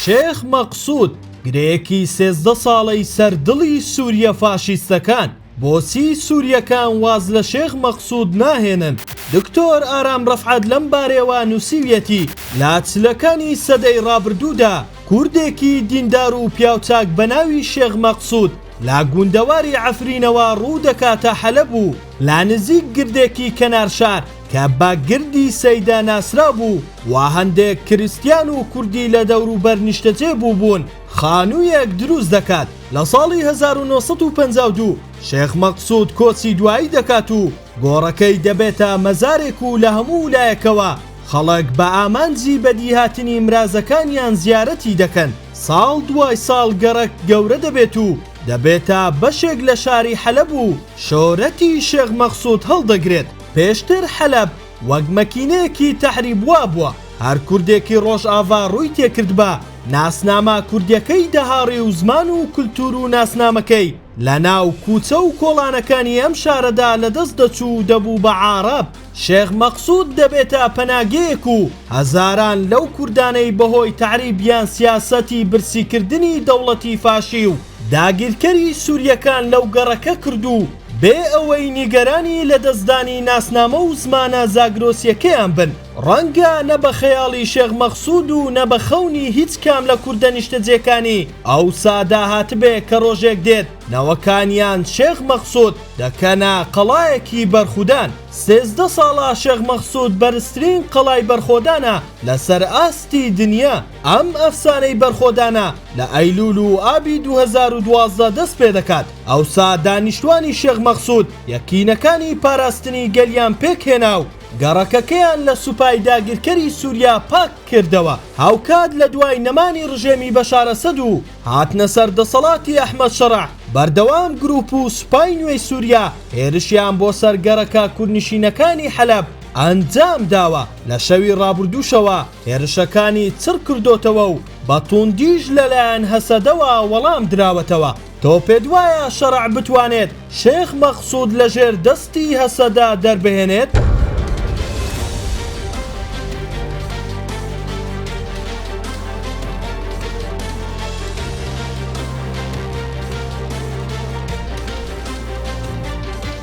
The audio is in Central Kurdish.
شێخ مەقسود گرێیەکی سێزدە ساڵەی سەر دڵی سوریە فاشیستەکان بۆچی سوریەکان واز لە شێخ مەقسود ناهێنن دکتۆر ئارام رەفعەت لەم بارەیەوە نوسیویەتی لە چلەکانی سەدەی رابردودا کوردێکی دیندار و پیاوچاک بەناوی شێخ مەقسود لە گوندەواری عەفرینەوە روودەکاتە حەلەب و لە نزیک گردێکی کەنار شار کە بە گردی سەیدا ناسرا بوو و هەندێک کریستیان و کوردی لە دەوروبەر نیشتەجێ بووبوون، خانوویەک دروست دەکات. لە ساڵی هەزار و نۆ سەد و پەنجا و دوو شێخ مەقسوود کۆچی دوایی دەکات و گۆڕەکەی دەبێتە مەزارێک و لە هەموو لایەکەوە خەڵک بە ئامانجی بەدیهاتنی مرازەکانیان زیارەتی دەکەن. ساڵ دوای ساڵ گەڕەک گەورە دەبێت و دەبێتە بەشێک لە شاری حەلەب و شۆرەتی شێخ مەقسوود هەڵدەگرێت. پێشتر حەلەب وەک مەکینەیەکی تەعریب وابووە هەر کوردێکی ڕۆژاڤا ڕووی تێکردبا ناسنامە کوردیەکەی دەهاڕی و زمان و کلتور و ناسنامەکەی لە ناو کوچە و کۆڵانەکانی ئەم شارەدا لە دەست دەچوو و دەبوو بە عارەب شێخ مەقسود دەبێتە پەناگەیەک و هەزاران لەو کوردانەی بەهۆی تەعریب یان سیاسەتی برسی کردنی دەوڵەتی فاشی و داگیرکەری سوریەکان لەو گەڕەکە کردوو بێ ئەوەی نیگەرانی لەدەستدانی ناسنامە و زمانە زاگرۆسیەکەیان بن، ڕەنگە نە بە خەیاڵی شێخ مەقسود و نە بە خەونی هیچ کام لە کوردە نیشتەجێکانی ئەوسادا هاتبێ کە ڕۆژێک دێت نەوەکانیان شێخ مەقسود دەکەنە قەڵایەکی بەرخودان. سێزدە ساڵە شێخ مەقسود بەرزترین قەڵای بەرخۆدانە لەسەر ئاستی دنیا. ئەم ئەفسانەی بەرخۆدانە لە ئەیلوول و ئابی دوو هەزار و دوازدە دەست پێ دەکات، ئەوسا دانیشتوانی شێخ مەقسوود یەکینەکانی پاراستنی گەلیان پێک هێنا و گەڕەکەکەیان لە سوپای داگیرکەری سووریا پاک کردەوە، هاوکات لە دوای نەمانی ڕژێمی بەشار ئەسەد و هاتنە سەر دەسەڵاتی ئەحمەد شەرع بەردەوام گرووپ و سوپای نوێی سووریا هێرشیان بۆ سەر گەڕەکە کوردنشینەکانی حەلەب ئەنجام داوە، لە شەوی ڕابردووشەوە هێرشەکانی چڕ کردۆتەوە و بە توندیش لەلایەن هەسەدەوە وەڵام دراوەتەوە، تۆ پێت وایە شەرع بتوانێت شێخ مەقسود لە ژێر دەستی هەسەدە دەربهێنێت؟